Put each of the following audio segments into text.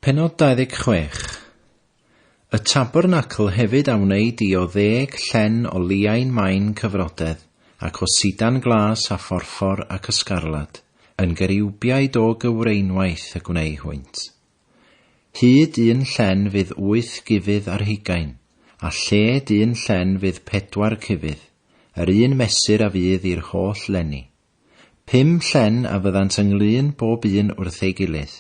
Pennod 26. Y tabernacl hefyd a wneud di o ddeg llen o liain main cyfrodedd, ac o sidan glas a phorffor ac ysgarlad, yn geriwbiaid o gyfreinwaith y gwneu hwynt. Hyd un llen fydd wyth gufydd ar hugain, a lled un llen fydd pedwar cufydd, yr un mesur a fydd i'r holl lenni. Pum llen a fyddant ynglŷn bob un wrth ei gilydd,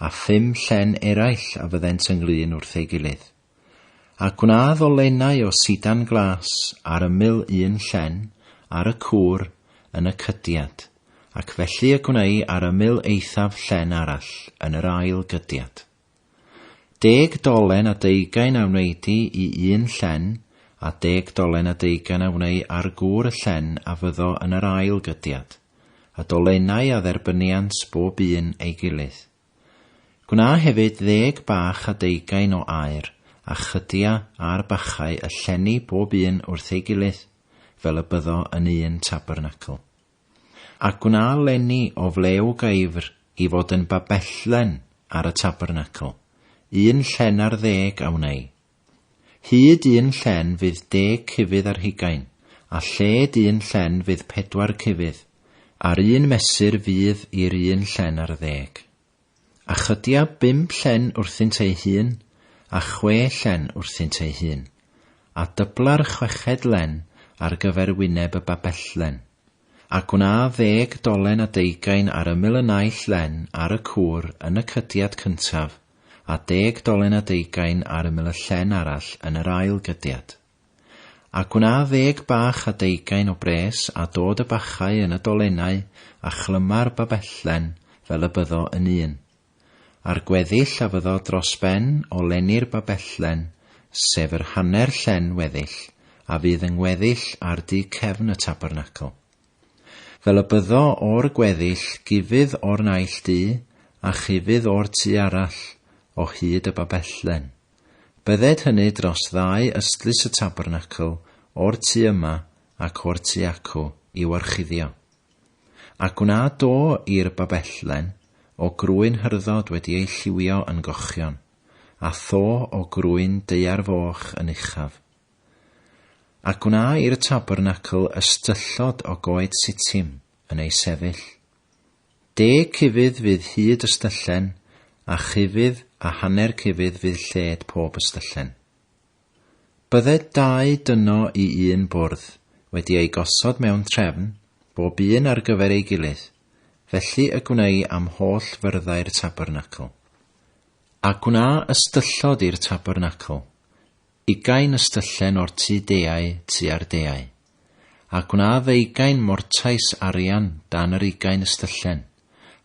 a phum llen eraill a fyddent ynglŷn wrth ei gilydd. A gwnadd o lenau o sidan glas ar ymyl un llen, ar y cwr, yn y cydiad, ac felly y gwnei ar ymyl eithaf llen arall yn yr ail gydiad. Deg dolen a deugain a wneidi i un llen, a deg dolen a deugain a wnei ar gŵr y llen a fyddo yn yr ail gydiad, a dolenau a dderbyniant bob un ei gilydd. Gwna hefyd ddeg bach a deugain o aer, a chydia ar bachau y llenni bob un wrth ei gilydd, fel y byddo yn un tabernacl. A gwna lenni o flew gaifr i fod yn babellen ar y tabernacl, un llen ar ddeg a wnei. Hyd un llen fydd deg cufydd ar hugain, a lled un llen fydd pedwar cufydd, a'r un mesur fydd i'r un llen ar ddeg. A chydia bump llen wrthynt ei hun, a chwe llen wrthynt ei hun, a dybla'r chweched len ar gyfer wyneb y babelllen. A gwna ddeg dolen a deugain ar ymyl y naill len ar y cwr yn y cydiad cyntaf, a deg dolen a deugain ar ymyl y llen arall yn yr ail gydiad. A gwna ddeg bach a deugain o bres a dod y bachau yn y dolennau a chlyma'r babellen fel y byddo yn un. A'r gweddill a fyddo dros ben o lenni'r babellen, sef yr hanner llen weddill a fydd yng ngweddill ar du cefn y tabernacl. Fel y byddo o'r gweddill gufydd o'r naill du a chufydd o'r tu arall, o hyd y babellen. Bydded hynny dros ddau ystlys y tabernacl, o'r tu yma ac o'r tu acw, i'w orchuddio. A gwna do i'r babelllen o grwyn hyrddod wedi ei lliwio yn gochion, a tho o grwyn daear foch yn uchaf. A gwna i'r tabernacl ystyllod o goed sitim yn ei sefyll. De cufydd fydd hyd ystyllen, a chufydd a hanner cufydd fydd lled pob ystyllen. Bydde dau dyno i un bwrdd wedi eu gosod mewn trefn, bob un ar gyfer ei gilydd, felly y gwnei am holl fyrddau'r tabernacl. A gwna ystyllod i'r tabernacl, ugain ystyllen o'r tu deau tua'r deau. a gwna ddeugain mortais arian dan yr ugain ystyllen,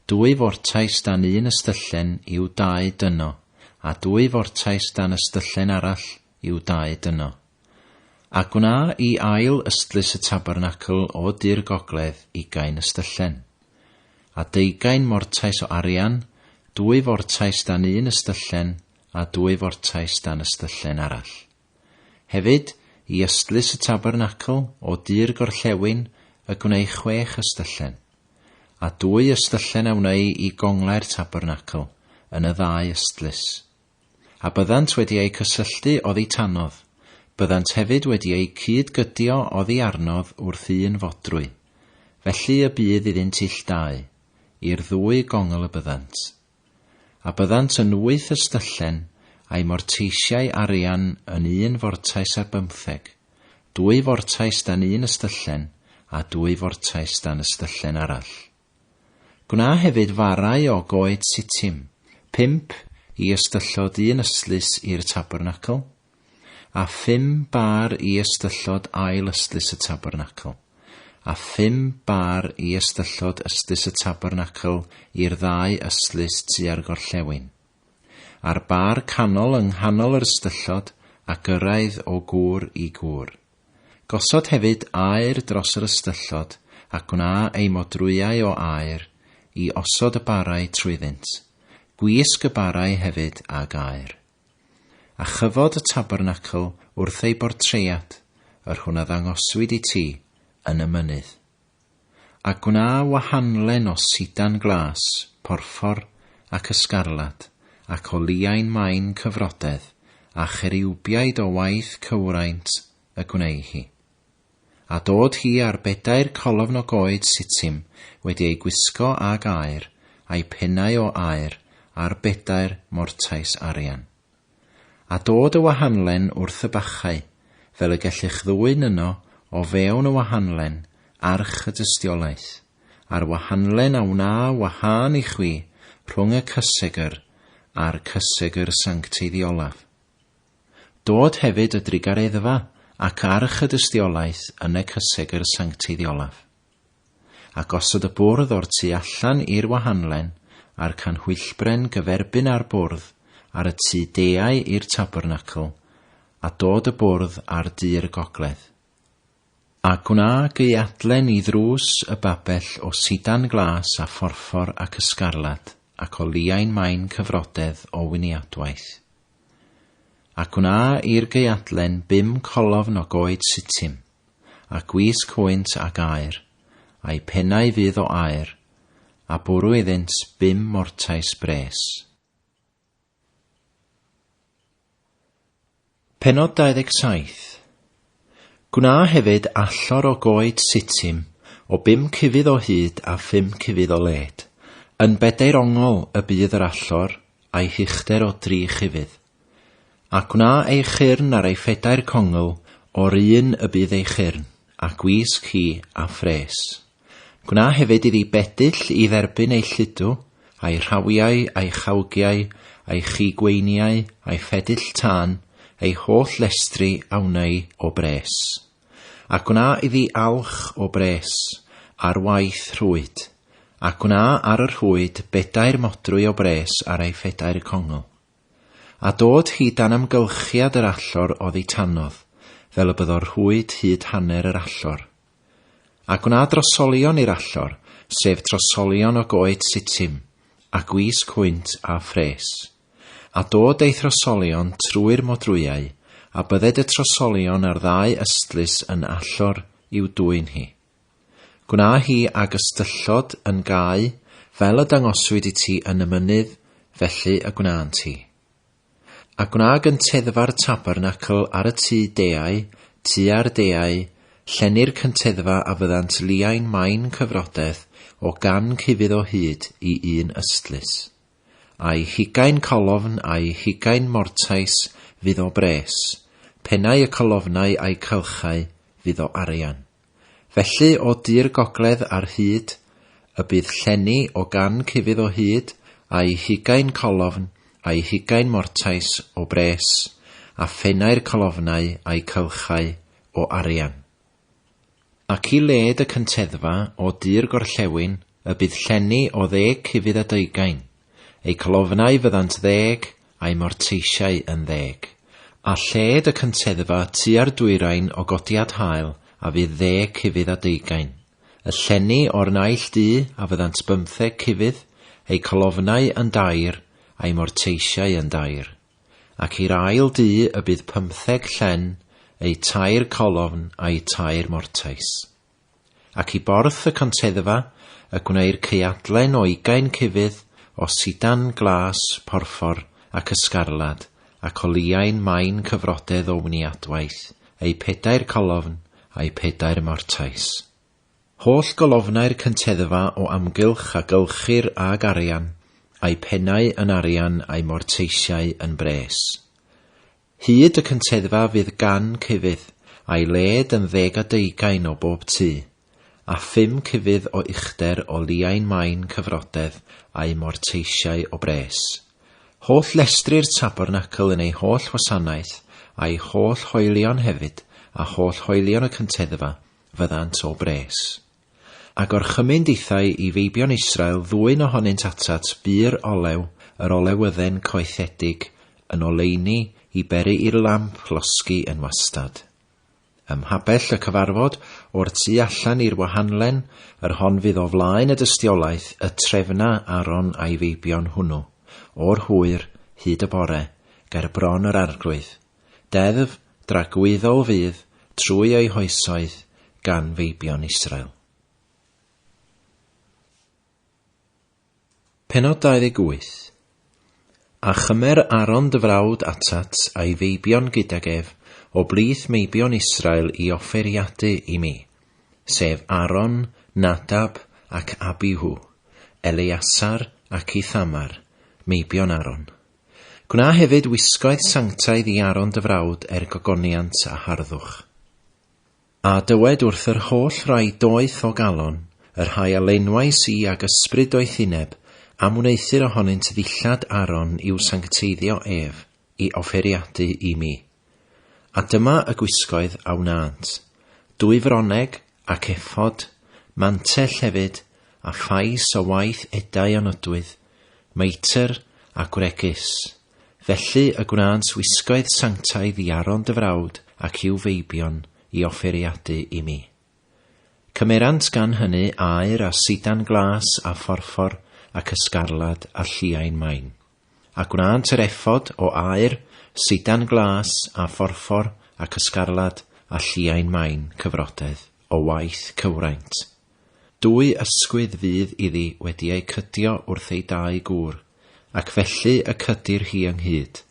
dwy fortais dan un ystyllen i'w dau dyno, a dwy fortais dan ystyllen arall i'w dau dyno. A gwna i ail ystlys y tabernacl o du'r gogledd ugain ystyllen. A deugain mortais o arian, dwy fortais dan un ystyllen, a dwy fortais dan ystyllen arall. Hefyd, i ystlys y tabernacl, o du'r gorllewin, y gwneu chwech ystyllen. A dwy ystyllen a wneu i gonglau'r tabernacl, yn y ddau ystlys. A byddant wedi eu cysylltu oddi tanodd, byddant hefyd wedi eu cyd-gydio oddi arnodd wrth un fodrwy, felly y bydd iddynt ill dau, i'r ddwy gongl y byddant. A byddant yn wyth ystyllen, a'i morteisiai arian yn un fortais ar bymtheg, dwy fortais dan un ystyllen, a dwy fortais dan ystyllen arall. Gwna hefyd farau o goed sitim, pump i ystyllod un ystlys i'r tabernacl, A phum bâr i ystyllod ail ystlys y tabernacl, a phum bâr i ystyllod ystlys y tabernacl i'r ddau ystlys tua'r gorllewin. A'r bâr canol yng nghanol yr ystyllod, a gyrraedd o gŵr i gŵr. Gosod hefyd aer dros yr ystyllod, a gwna eu modrwyau o aer, i osod y bârau trwyddynt. Gwisg y bârau hefyd ag aer. A chyfod y tabernacl wrth ei bortread, yr hwn a ddangoswyd i ti yn y mynydd. A gwna wahanlen o sidan glas, porffor, ac ysgarlad, ac o liain main cyfrodedd, a cheriwbiaid o waith cywraint y gwneu hi. A dod hi ar bedair colofn o goed sitim wedi ei gwisgo ag aer, a'i pennau o aer, ar bedair mortais arian. A dod y wahanlen wrth y bachau, fel y gellych ddwyn yno o fewn y wahanlen, arch y dystiolaeth, a'r wahanlen a wna wahân i chwi rhwng y cysegr a'r cysegr sancteidd i olaf. Dod hefyd y drugareddfa ac arch y dystiolaeth yn e cyseg yr sancteidd olaf. A gosod y bwrdd o'r tu allan i'r wahanlen, a'r canhwyllbren gyferbyn â'r bwrdd, ar y tu deau i'r tabernacl, a dod y bwrdd ar du'r gogledd. A gwna geuadlen i ddrws y babell o sidan glas a phorffor ac ysgarlad, ac o liain main cyfrodedd o winiadwaith. Ac wn a i'r geuadlen bum colofn o goed sitim, a gwisg hwynt ag aer, a'u pennau fydd o aer, a bwrw iddynt bum mortais bres. Pennod 27, Gwna hefyd allor o goed sitim o bum cufydd o hyd a phum cufydd o led, yn bedair ongl y bydd yr allor, a'i huchder o dri chufydd. A gwna ei chyrn ar ei phedair congl o'r un y bydd ei chyrn, a gwisg hi, a phres. Gwna hefyd iddi bedyll i dderbyn ei lludw, a'i rhawiau, a'i chawgiau, a'i chigweiniau, a'i phedyll tân, ei holl lestri a wna i o bres. A gwna iddi alch o bres, ar waith rhwyd, a gwna ar y rhwyd bedair modrwy o bres ar ei phedair congl. A dod hi dan amgylchiad yr allor oddi tanodd, fel y byddo'r rhwyd hyd hanner yr allor. A gwna drosolion i'r allor, sef trosolion o goed sitim, a gwys cwynt a phres. A dod ei throsolion trwy'r modrwyau, a bydded y trosolion a'r ddau ystlys yn allor i'w dwyn hi. Gwna hi ag ystyllod yn gau, fel y dangoswyd i ti yn y mynydd, felly y gwnânt hi. A gwna gynteddfa'r tabernacl ar y tŷ deau, tua'r deau, llenni'r cynteddfa a fyddant liain main cyfrodeth o gan cufudd o hyd i un ystlys. A'i hugain colofn a'i hugain mortais fydd o bres, pennau y colofnau a'i cylchau fydd o arian. Felly o dir gogledd ar hyd, y bydd llenni o gan cufydd o hyd a'i hugain colofn a'i hugain mortais o bres, a phennau'r colofnau a'i cylchau o arian. Ac i led y cynteddfa o dir gorllewin, y bydd llenni o ddeg cufydd a deugain. Eu colofnau fyddant ddeg, a'u morteisiau yn ddeg. A lled y cynteddfa tua'r dwyrain o godiad hael a fydd ddeg cufydd a deugain. Y llenni o'r naill du a fyddant bymtheg cufydd, eu colofnau yn dair, a'u morteisiau yn dair. Ac i'r ail du y bydd pymtheg llen, eu tair colofn a'u tair mortais. ac i borth y conteddfa y gwneir caeadlen o ugain cufydd o sidan glas porffor ac ysgarlad ac o liain main cyfrodedd o wniadwaith, eu pedair colofn a'u pedair mortais. Holl golofnau'r cynteddfa o amgylch a gylchir âg arian, a'u pennau yn arian a'u morteisiau yn bres. Hyd y cyntedfa fydd gan cyfudd, a'i led yn ddeg a deugain o bob tu, a phum cyfudd o uchder o liain main cyfrodedd a'u morteisiau o bres. Holl lestri'r tabernacl yn ei holl wasanaeth, a'i holl hoelion hefyd, a holl hoelion y cyntedfa, fyddant o bres. A gorchymyn dithau i feibion Israel ddwyn ohonynt atat bur olew, yr olewydden coethedig, yn oleuni i beri i'r lamp losgi yn wastad. Ym mhabell y cyfarfod, o'r tu allan i'r wahanlen, yr hon fydd o flaen y dystiolaeth, y trefna Aaron a'i feibion hwnnw, o'r hwyr, hyd y bore, ger bron yr arglwydd. Deddf dragwyddo o fudd trwy eu hoesoedd gan feibion Israel. Penod 28 A chymer Aaron dy frawd atat a'i feibion gydag ef o blith meibion Israel i offeriadu i mi, sef Aaron, Nadab ac Abihu, Eleasar ac Ithamar, meibion Aaron. Gwna hefyd wisgoedd sanctaidd i Aaron dy frawd er gogoniant a harddwch. A dywed wrth yr holl rai doeth o galon, y rhai a laenwais i ag ysbryd doethineb, am wneuthur ohonynt ddillad Aaron i'w sancteiddio ef, i offeriadu i mi. A dyma y gwisgoedd a wnânt, dwy froneg, ac ephod, mantell hefyd, a phais o waith edau a nodwydd, meitr, a gwregys. Felly y gwnânt wisgoedd sanctaidd i Aron dy frawd ac i'w feibion, i offeriadu i mi. Cymerant gan hynny aur a sidan glas a phorffor ac ysgarlad a lliain main. a gwnaant yr efod o aer, sidan glas, a phorffor, ac ysgarlad, a lliain main, cyfrodedd, o waith cywraint. Dwy ysgwydd fydd iddi wedi eu cydio wrth ei dau gŵr, ac felly y cydir hi ynghyd.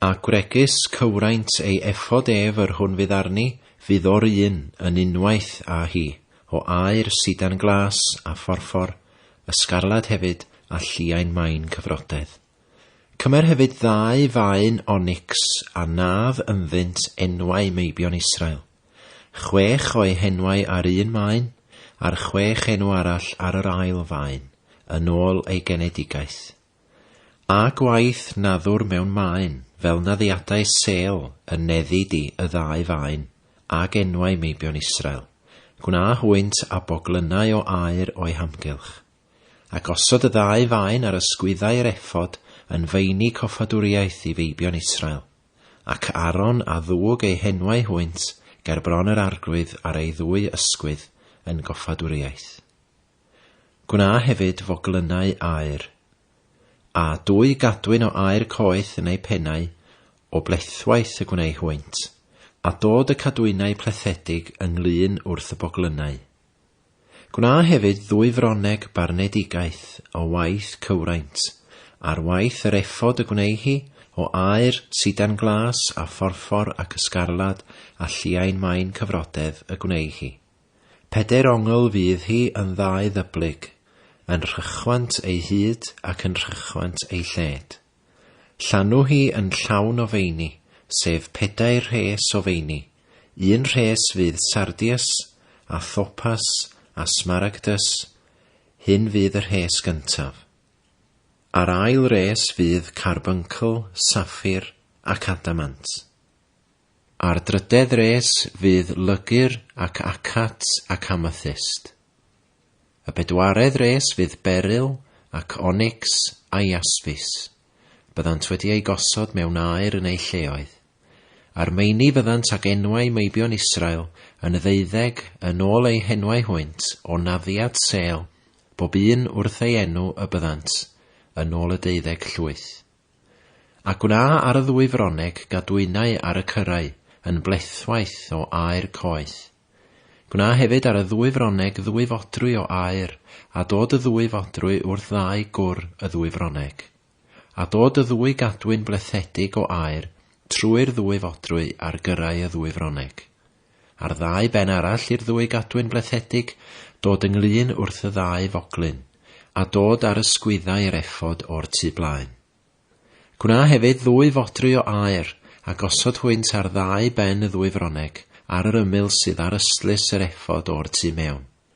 A gwregys cywraint ei effod ef yr hwn fydd arni, fydd o'r un yn unwaith â hi, o aer sidan glas, a phorffor, y sgarlad hefyd, a lliain main cyfrodedd. Cymer hefyd ddau faen onics, a naf ynddynt enwau meibion Israel. Chwech o'u henwau ar un maen, a'r chwech enw arall ar yr ail faen, yn ôl eu genedigaeth. A gwaith na ddwr mewn maen, fel na ddiadau sêl yn neddi di y ddau faen, ag enwau meibion Israel, gwna hwynt a boglynnau o aer o'u hamgylch. A gosod y ddau faen ar ysgwyddau yr ephod yn faenu coffadwriaeth i feibion Israel, ac Aaron a ddwg eu henwau hwynt ger bron yr arglwydd ar ei ddwy ysgwydd yn goffadwriaeth. Gwna hefyd foglynnau aer, a dwy gadwyn o aer coeth yn eu pennau, o blethwaith y gwnei hwynt, a dod y cadwynau plethedig yng nglyn wrth y boglynnau. Gwna hefyd ddwy froneg barnedigaeth o waith cywraint, ar waith yr efod y gwnei hi, o aer, sidan glas, a phorffor, ac ysgarlad, a lliain main cyfrodedd y gwnei hi. Pedair ongl fydd hi yn ddau ddyblyg, yn rhychwant ei hyd ac yn rhychwant ei lled. Llanw hi yn llawn o feini, sef pedair rhes o feini, un rhes fydd sardius, a thopas, a smaragdus, hyn fydd y rhes gyntaf. A'r ail res fydd carbuncl, saffir, ac adamant. Ar drydedd res fydd Lygr ac Acat ac Amethyst. Y bedwaredd res fydd Beryl ac Onycs a Jaspis. Byddant wedi eu gosod mewn aer yn eu lleoedd. A'r meini fyddant ag enwau meibion Israel yn y ddeuddeg yn ôl eu henwau hwynt o naddiad sêl, bob un wrth ei enw y byddant yn ôl y deuddeg llwyth. A gwna ar y ddwy froneg gadwynau ar y cyrrau yn blethwaith o aer coeth. Gwna hefyd ar y ddwy froneg ddwy fodrwy o aer, a dod y ddwy fodrwy wrth ddau gwr y ddwy froneg. A dod y ddwy gadwyn blethedig o aer trwy'r ddwy fodrwy ar gyrrau y ddwy froneg. A'r ddau ben arall i'r ddwy gadwyn blethedig, dod ynglŷn wrth y ddau foglyn, a dod â'r ysgwyddau i'r efod o'r tu blaen. Gwna hefyd ddwy fodry o aer, a gosod hwynt ar ddau ben y ddwy froneg, ar yr ymyl sydd ar ystlys yr efod o'r tu mewn.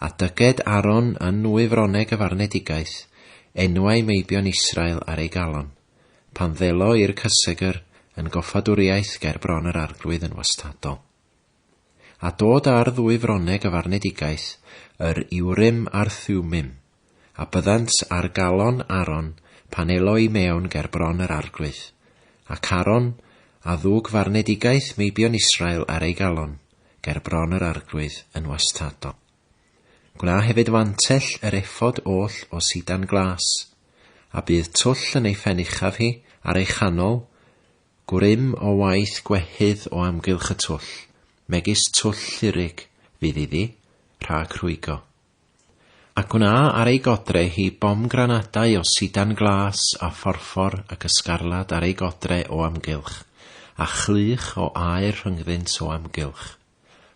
A dyged Aaron yn nwy froneg y farnedigaeth, enwau meibion Israel ar ei galon, pan ddelo i'r cysegr yn goffadwriaeth ger bron yr arglwydd yn wastadol. A dod â'r ddwy froneg y farnedigaeth, yr Urim a'r Thummim, a byddant ar galon Aaron pan elo i mewn ger bron yr arglwydd, ac Aaron a ddwg farnedigaeth meibion Israel ar ei galon ger bron yr arglwydd yn wastadol. Gwna hefyd fantell yr effod oll o sidan glas, a bydd twll yn ei phen uchaf hi ar ei chanol, gwrym o waith gwehydd o amgylch y twll, megis twll llirig, fydd iddi, rhag rhwygo. Ac gwna ar ei godre hi bomgranadau o sidan glas a phorffor ac ysgarlad ar ei godre o amgylch, a chlych o aer rhyngddynt o amgylch.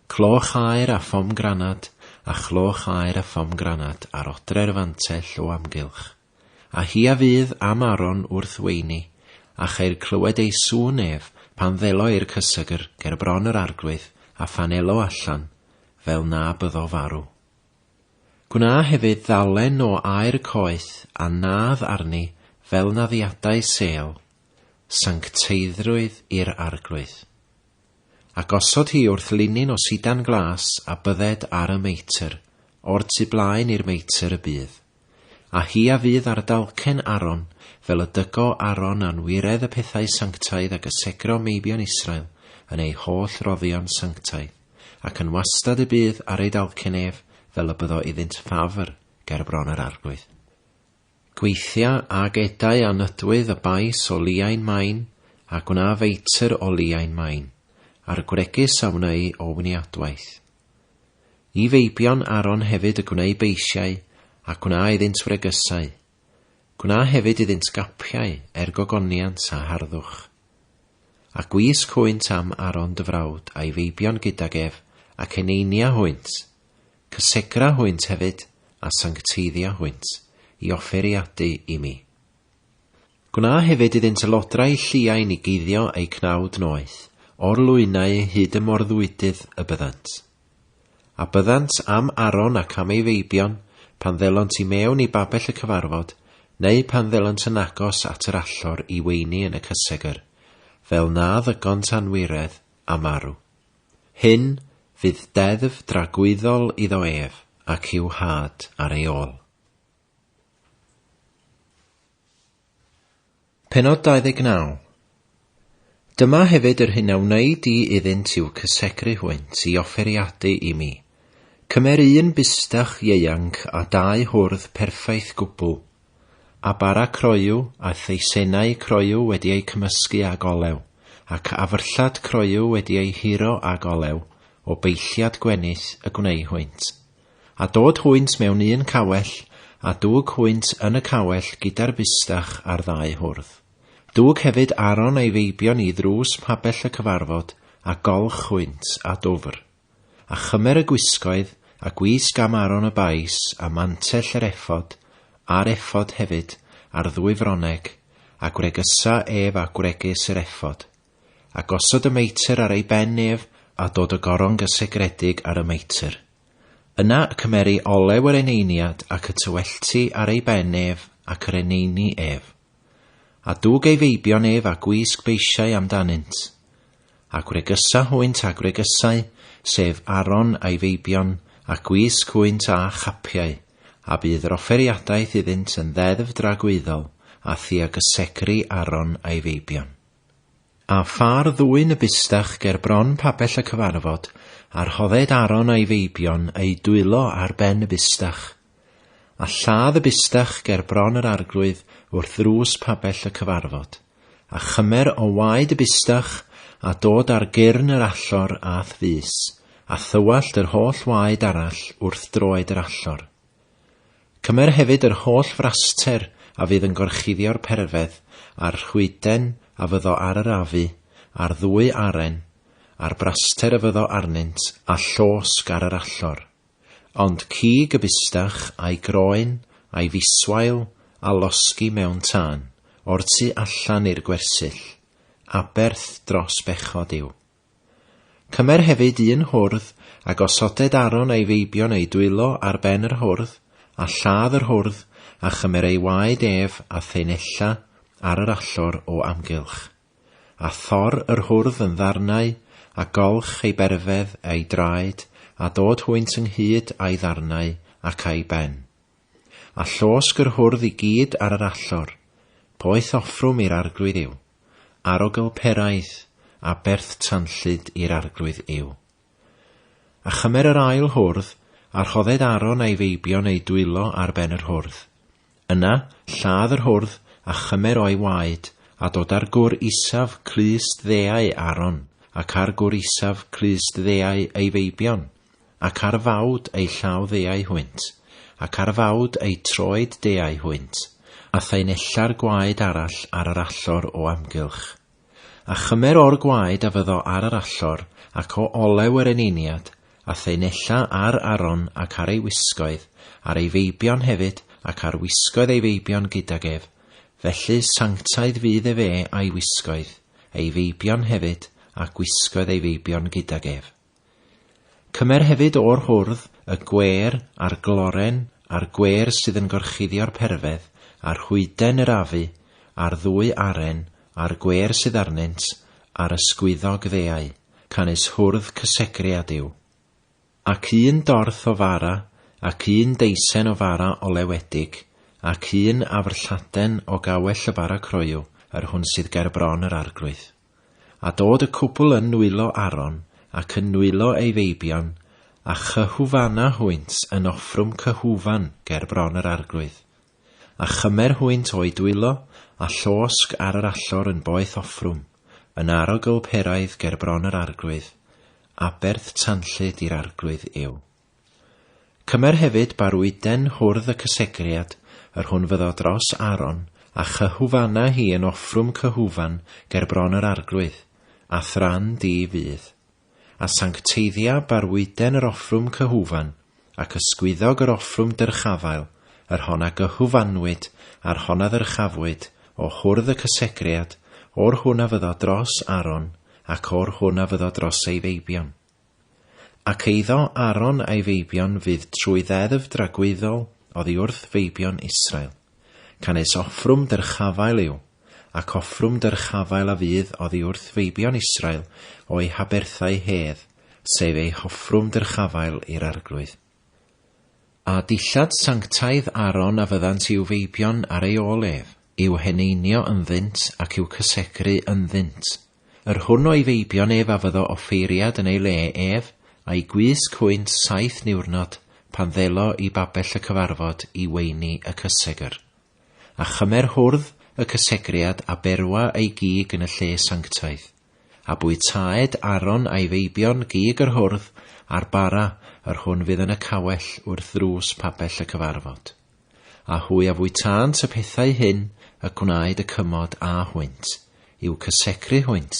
Cloch aer a phomgranad, a chloch aer a phomgranad ar odre'r fantell o amgylch. A hi a fydd am Aron wrth weini, a cheir clywed ei sŵn ef, pan ddelo i'r cysegr ger bron yr arglwydd, a phan elo allan, fel na byddo farw. Gwna hefyd ddalen o aer coeth a nadd arni fel naddiadau sêl, sancteiddrwydd i'r arglwydd. a gosod hi wrth linyn o sidan glas a bydded ar y meitr, o'r tu blaen i'r meitr y bydd. A hi a fydd ar dalcen Aron, fel y dygo Aron anwiredd y pethau sanctaidd a gysegro meibion Israel yn eu holl roddion sanctaidd, ac yn wastad y bydd ar ei dalcen ef fel y byddo iddynt ffafr ger bron yr arglwydd. Gweithia ag edau a nydwydd a bais o liain main, a gwna feitr o liain main, a'r gwregys a wneu o wniadwaith. I feibion Aaron hefyd y gwneu beisiau, a gwna iddynt wregysau. Gwna hefyd iddynt gapiau, er gogoniant a harddwch. A gwisg hwynt am Aaron dy frawd a'i feibion gydag ef, ac eneinia hwynt, Cysegra hwynt hefyd, a sancteiddia hwynt, i offeriadu i mi. Gwna hefyd iddynt y lodrau lliain i guddio eu cnawd noeth, o'r lwynau hyd y morddwydydd y byddant. A byddant am Aron ac am ei feibion, pan ddelont i mewn i babell y cyfarfod, neu pan ddelont yn agos at yr allor i weini yn y cysegr, fel na ddygont anwiredd, a marw. Hyn fydd deddf dragwyddol iddo ef ac i'w nhad ar ei ôl. Pennod 29. Dyma hefyd yr hyn a wneud di iddynt i'w cysegru hwynt i offeriadu i mi. Cymer un bustach ieuanc a dau hwrdd perffaith gwbl a bara croyw, a theisennau croyw wedi eu cymysgu ag olew, ac afyrllad croyw wedi ei huro ag olew, o beilliad gwenith y gwneu hwynt. A dod hwynt mewn un cawell, a dwg hwynt yn y cawell gyda'r fusdach a'r ddau hwrdd. Dwg hefyd Aaron a'i feibion i ddrws mhabell y cyfarfod, a golch hwynt, a dwfr. A chymer y gwisgoedd, a gwisg am Aron y bais, a mantell yr effod, a'r effod hefyd, a'r ddwy froneg, a gwregusa ef â gwregys yr effod. A gosod y meitr ar ei ben ef, a dod y goron gysegredig ar y meitr. Yna y cymeri olew yr eneiniad ac y tywellti ar ei ben ef ac yr eneini ef. A dwg ei feibion ef a gwisg beisiau am danynt. A gwregusa hwynt a gwregusau, sef Aron a'i feibion, a gwisg hwynt â chapiau, a bydd yr offeriadaeth iddynt yn ddeddf dragwyddol a thiagysegri Aron a'i feibion. A pha'r ddwyn y bustach ger bron pabell y cyfarfod, a rhodded Aron a'i feibion eu dwylo ar ben y bustach, A lladd y bustach ger bron yr arglwydd wrth ddrws pabell y cyfarfod, a chymer o waed y bustach a dod ar gyrn yr allor a'th fys, a thywallt yr holl waed arall wrth droed yr allor. Cymer hefyd yr holl fraster a fydd yn gorchuddio'r perfedd, a'r rhwyden a fyddo ar yr afu, a'r ddwy aren, a'r braster a fyddo arnynt, a llosg ar yr allor. Ond cig y bustach a'i groen a'i fiswail a losgi mewn tân, o'r tu allan i'r gwersyll, aberth dros bechod yw. Cymer hefyd un hwrdd a gosoded Aaron a'i feibion eu dwylo ar ben yr hwrdd, a lladd yr hwrdd, a chymer ei waed ef a thaenella ar yr allor o amgylch. A thor yr hwrdd yn ddarnau, a golch ei berfedd a'i draed, a dod hwynt ynghyd â'i ddarnau ac â'i ben. A llosg yr hwrdd i gyd ar yr allor, poeth offrwm i'r Arglwydd yw, arogl peraidd, aberth tanllyd i'r Arglwydd yw. A chymer yr ail hwrdd, a rhodded Aaron a'i feibion eu dwylo ar ben yr hwrdd. Yna, lladd yr hwrdd, a chymer o'i waed, a dod â'r gwr isaf, clust ddeau Aaron, ac â'r gwr isaf, clust ddeau ei feibion, ac ar fawd eu llaw ddeau hwynt, ac ar fawd eu troed deau hwynt, a thaenella'r gwaed arall ar yr allor o amgylch. A chymer o'r gwaed a fyddo ar yr allor, ac o olew yr eneiniad, a theu nella ar Aron ac ar ei wisgoedd, ar ei feibion hefyd, ac ar wisgoedd ei feibion gydag ef, felly sanctaidd fydd efe a'i wisgoedd, ei feibion hefyd, a gwisgoedd ei feibion gydag ef. Cymer hefyd o'r hwrdd, y gwêr, a'r gloren, a'r gwêr sydd yn gorchuddio'r perfedd, a rhwyden yr afu, a'r ddwy aren, a'r gwêr sydd arnynt, a'r ysgwyddog ddeau, canys hwrdd cysegriad yw. Ac un dorth o fara, ac un deisen o fara olewedig, ac un afr lladen o gawell y fara croyw, yr hwn sydd ger bron yr arglwydd. A dod y cwpl yn nwylo Aron, ac yn nwylo ei feibion, a chyhufana hwynt yn offrwm cyhufan ger bron yr arglwydd. A chymer hwynt o'u dwylo, a llosg ar yr allor yn boeth offrwm, yn arogl peraidd ger bron yr arglwydd, aberth tanllyd i'r arglwydd yw. Cymer hefyd barwyd den hwrdd y cysegriad, yr hwn fyddo dros Aaron, a chyhufana hi yn offrwm cyhufan ger bron yr arglwydd, a thran di fydd. A sancteiddia barwyden yr offrwm cyhufan, ac ysgwyddog yr offrwm dyrchafael, yr hon a gyhufanwyd a'r hon a ddyrchafwyd o hwrdd y cysegriad, o'r hwn a fyddo dros Aaron, ac o'r hwn a fyddo dros ei feibion. Ac eiddo Aaron a'i feibion fydd trwy ddeddf dragwyddol oddi wrth feibion Israel. Canys offrwm dyrchafael yw, ac offrwm dyrchafael a fydd oddi wrth feibion Israel o'u haberthau hedd, sef eu hoffrwm dyrchafael i'r Arglwydd. A dillad sanctaidd Aaron a fyddant i'w feibion ar ei ôl ef, i'w heneinio ynddynt ac i'w cysegru ynddynt. Yr hwn o'i feibion ef a fyddo offeiriad yn ei le ef, a'i gwisg hwynt saith niwrnod, pan ddelo i babell y cyfarfod i weini y cysegr. A chymer hwrdd y cysegriad a berwa ei gig yn y lle sanctaidd. A bwytaed Aaron a'i feibion gig yr hwrdd a'r bara yr hwn fydd yn y cawell wrth ddrws pabell y cyfarfod. A hwy a fwytânt y pethau hyn y gwnaed y cymod â hwynt, i'w cysegru hwynt,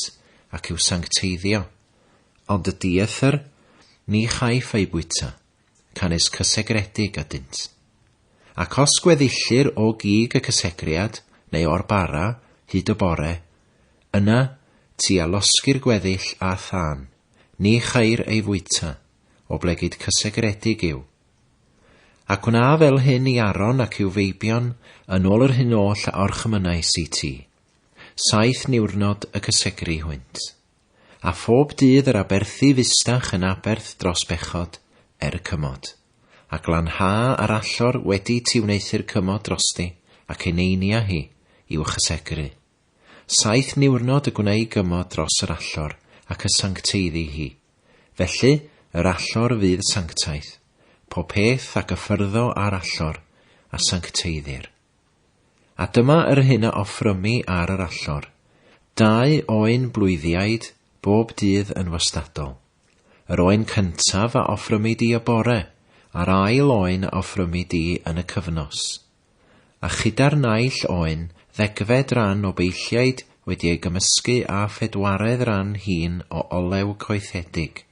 ac i'w sancteiddio. Ond y dieithr, ni chaiff eu bwyta, canys cysegredig ydynt. Ac os gweddill-ir o gig y cysegriad, neu o'r bara, hyd y bore, Yna, tua losgi'r gweddill â thân, ni chair ei fwyta, oblegid cysegredig yw. Ac wna fel hyn i Aron ac i'w feibion yn ôl yr hyn oll a orchymynais i ti. Saith niwrnod y cysegri hwynt. A phob dydd yr aberthi fusdach yn aberth dros bechod, er y cymod. A glan ha ar allor wedi ti wneuthur cymod drosti ac ei neinia hi, i'w chysegru. Saith niwrnod y gwnei gymod dros yr allor, ac y sancteiddi hi. Felly, yr allor fydd sanctaeth, po peth a gyffyrddo â'r allor, a sancteiddir. A dyma yr hyn a offrymi ar yr allor, dau oen blwyddiaid bob dydd yn wastadol. Yr oen cyntaf a offrymi di y bore, a'r ail oen a offrymi di yn y cyfnos. A chyda'r naill oen, ddegfed ran o beilliaid wedi ei gymysgu â phedwaredd ran hŷn o olew coethedig,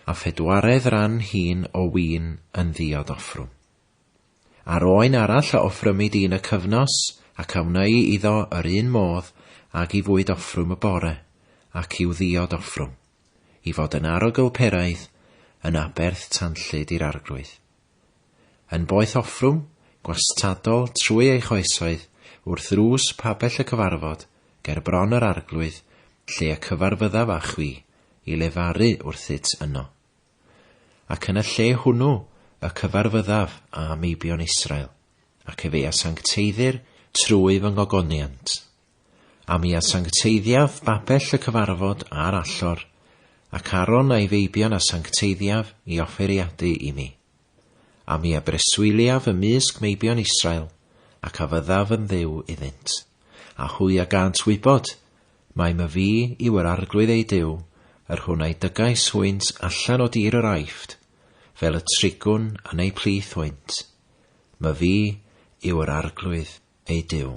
a phedwaredd ran hŷn o win yn ddiod offrwm. A'r oen arall a offrymid un y cyfnos, ac a wnei iddo yr un modd ag i fwyd offrwm y bore, ac i'w ddiod offrwm, i fod yn arogl peraidd, yn aberth tanllyd i'r arglwydd. Yn boeth offrwm, gwastadol trwy ei choesoedd, wrth ddrws pabell y cyfarfod, ger bron yr arglwydd, lle y cyfarfyddaf â chwi, i lefaru wrthyt yno. Ac yn y lle hwnnw y cyfarfyddaf â meibion Israel, ac efe a sancteiddir trwy fy ngogoniant. A mi a sancteiddiaf babell y cyfarfod a'r allor, ac Aaron a'i feibion a sancteiddiaf i offeiriadu i mi. A mi a breswyliaf ymysg meibion Israel, ac a fyddaf yn Dduw iddynt. A hwy a gânt wybod, mai my fi yw yr Arglwydd eu Duw, yr hwn a'i dygais hwynt allan o dir yr Aifft, fel y trigwn yn eu plith hwynt. Ma fi yw yr Arglwydd ei Duw.